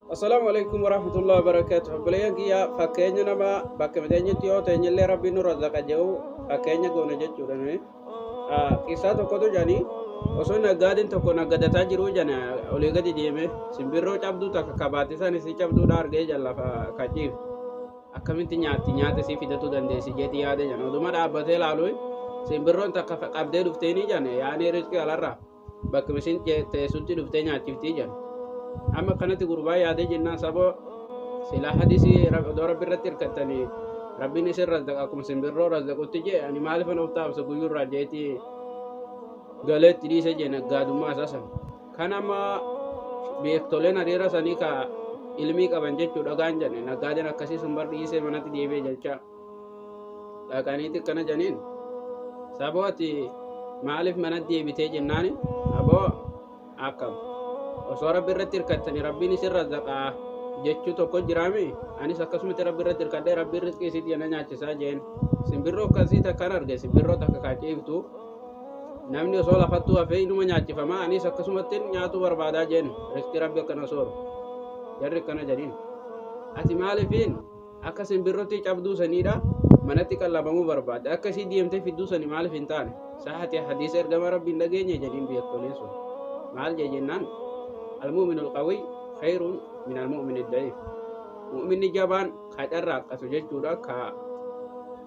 Assalaamu alaikum warahmatullahi wabarakatuh. Obboleeyyan kiyya fakkeenya nama bakka miteenyatti yoo ta'e illee rabbiin nurra zaqa jedhu fakkeenya goone jechuudha nuyi. Ah, Qissaa tokkotu jedhani osoo naggaadeen tokko naggadataa jiru jedhani olii gadi deeme simbirroo cabduu takka kabaatti isaan isii cabduudha argee jedhan lafa kaciif. Akkamitti nyaatti nyaata isii fidatu dandeessi jedhi yaade jedhan oduma dhaabbatee laaluun simbirroon takka qabdee dhufteenii jedhan yaanee riskii alarraa. bakka mishin teessutti dhuftee nyaachiftii jedhan amma kanatti gurbaa yaadee jennaan saboo silaa hadisii odoo rabbi irratti hirkattanii rabbiin isin razdaqa akkuma simbirroo razdaqutti jee ani maaliif an of taabsa guyyuu irraa jeeti galeetti dhiise jee naggaadummaa isaa san kan amma beektoleen hariira sanii ka ilmii qaban jechuu dhagaan jedhe naggaadeen akkasii sun bar dhiisee manatti deebi'e jechaa dhaqaniiti akkana janiin saboo ati maaliif mana deebitee jennaani aboo akkam osoo rabbi irratti hirkattani rabbiin isin razzaqaa jechuu tokko jiraami anis akkasumatti rabbi irratti hirkadhee rabbiin rizqii isiit jena nyaachisaa jeen simbirroo akkasii takkaan arge simbirroo takka kaaciiftu namni osoo lafattuu hafee inuma nyaachifama anis akkasumatti nyaatuu barbaadaa jeen rizqii rabbi akkana sooru jarri akkana jedhin ati maalifiin Akka sinbirrottii cabduu saniidha manatti qallabamuu barbaadde akka isii deemtee fidduu sani maaliif hin taane sahate hadiisa ergama rabbi hin dhageenye jedhiin beektoleen sun maal jee jennaan almu'minu alqawiy khayrun min almu'mini da'iif mu'minni jabaan ka carraaqqatu jechuudha ka